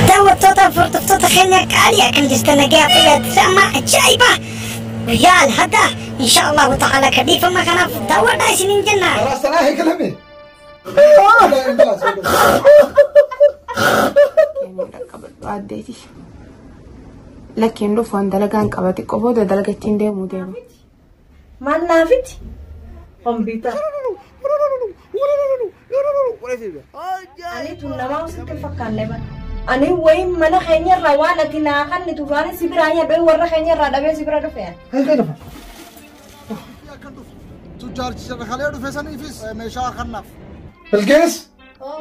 daawwattoota hordoftoota keenya qaalii akkam jirtan nagaa fayyaatisa amma ajaa'iba guyyaa alhadda insha allahu ta'ala ka dhiifama kanaaf daawwadhaa isinin jenna Rasanaa eegalame. addeeti lakkiin dhufu waan dalagaan qabate qoboo dalaga ittiin deemuu deema. Maal naafiti? Kompiitar. Ani tun namaa usitti fakkaanne bara. Ani wayin mana keenya irraa waan ati naa kanni tufaani si biraa nyadhee warra keenya irraa dhabee si bira dhufe. Eegaa dhufa. Akkan dhufu. Tujjaarchi sirra kalee dhufe saniifis meeshaa kannaaf. Bilgees. Oh.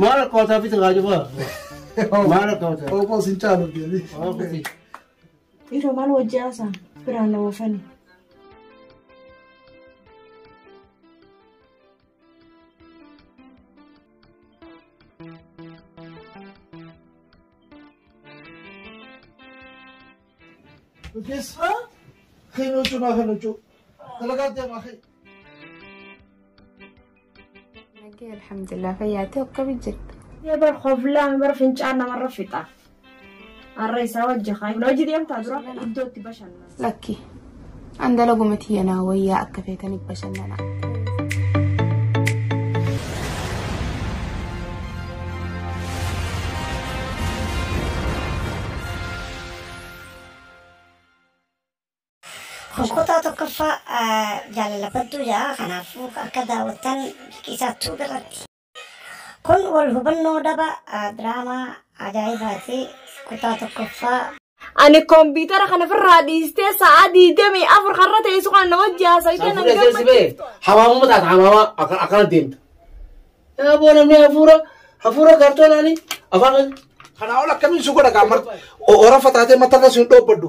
Maal akka wataa bitu kaa jibaa? Maal akka wataa? Obbo sin caalu deebi. Dhiiroo maal wajjin haasaan biraan na oofani. Bifesma khenuchu ma khenuchu. Talagat ya ma khe. Nagee alhamdulillah fayyaatee akkami jirta? Ee bar koflaan bar fincaan namarra fixa. Har'a isaa wajji haa. Hojii deemtaa dura iddootti bashannana. Lakki An dalaguma tiyya naa wayyaa akka feetaniif bashannanaa. Kun kutaa tokkoffaa jaalala badduu ja'a kanaafuu akka daawwattan liqii isaa tuub irratti. Kun wal hubannoo daba diraamaa ajaa'ibaati kutaa tokkoffaa. Ani kompiitara kana firraa dhiistee sa'aa diidamii afur karra teessu kana na wajji haasawitee nan Fuudhee seensi bee gammachiiftu. hawaamuma taata hawaamaa akka- akkana deemta. Yaa boo namni hafuura hafuura kaartoonaanii afaan kan Kanaa ol akkamiin si godha gaammarti? Orafa taatee matarra si hin dhoobbaddu.